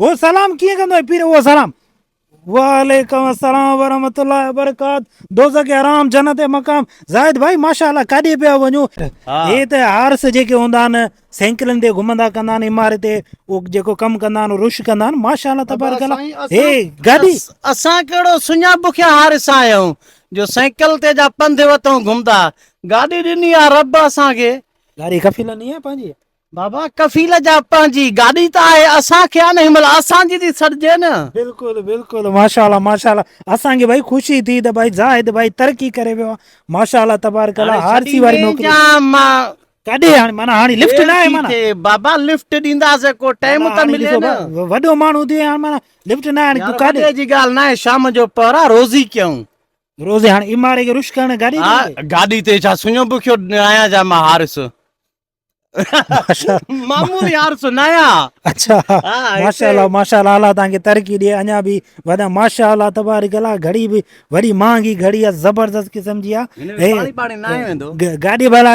هو سلام ڪيئن ڪندو آهي پير اهو سلام وعليڪم السلام ورحمت الله وبرڪات دوزه کي آرام جنت مقام زاهد ڀائي ماشاء الله ڪاڏي پيا وڃو هي ته هارس جيڪي هوندا آهن سينڪلن تي گهمندا ڪندا آهن عمارت تي او جيڪو ڪم ڪندا آهن رش ڪندا آهن ماشاء الله تبارک الله هي گاڏي اسان کهڙو سڃا بکيا هارس آهيون جو سينڪل تي جا پنڌ وتون گهمدا گاڏي ڏني آ رب اسان کي گاڏي کفي لني آ پنهنجي بابا ڪفيل جا پنهنجي گاڏي ته آهي اسان کي آ نه هن مهل اسان جي ٿي سڏجي نه. بلڪل بلڪل ماشاءالله ماشاءالله اسان کي ڀائي خوشي ٿي ته ڀائي زاهد ڀائي ترقي ڪري ويو آ ماشاءالله تبارڪ الله آر سي واري نوڪري ڪڏهن هاڻي معنيٰ هاڻي لفٽ نه آهي معنيٰ بابا لفٽ ڏينداسين ڪو ٽائيم ته ملي نه وڏو ماڻهو ٿي ويو آهين معنيٰ لفٽ نه هاڻي تون ڪاڏي وڏي جي ڳالهه نه آهي شام جو پهر آ روزي ڪيون روزي هاڻي ايم آر اي کي رش ڪرڻ گاڏي تي گاڏي تي ڇا سڃو بکيو آهيان ڇا مان حارث مامو يار سنايا اچھا ماشاءالله ماشاءالله الله تان کي ترقي ڏي اڃا به ودا ماشاءالله تبارک الله گھڙي به وڏي مهانگي گھڙي آ زبردست قسم جي آ پاڻي پاڻي نه ويندو گاڏي بھلا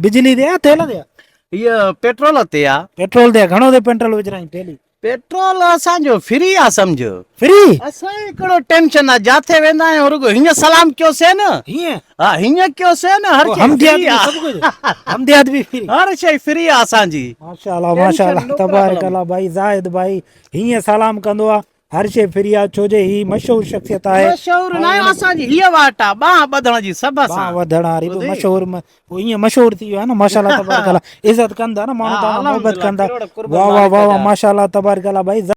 بجلي تي آ تيل تي آ هي پيٽرول تي آ پيٽرول تي گھڻو تي پيٽرول وجھرائين ٿيلي پيٽرول اسان جو فري آ سمجھ. فري؟ اسان کي ڪهڙو ٽينشن آ جاٿي ويندا آهيون رڳو هيئن سلام ڪيوسين. هيئن؟ ها هيئن ڪيوسين هر شي فري آ. سڀ ڪجھ حمديات به فري. هر شي فري آ اسان جي. ماشاء الله ماشاء الله تبارڪ الله ڀائي زاهد ڀائي هيئن سلام ڪندو آ هر شي فري آ ڇو جي هي مشهور شخصيت آهي. مشهور ناهي اسان جي هيء واٽ آ ٻانهن ٻڌڻ جي سڀ سان. ٻانهن وڌڻ واري به مشهور پوء ايئن مشهور ٿي ويا آهيو نه ماشاءالله تبارڪ الله عزت ڪن ٿا نه ماڻهو تهان کان محبت ڪن ٿا واهه واهه واهه واهه ماشاءالله تبارڪ الله ڀائي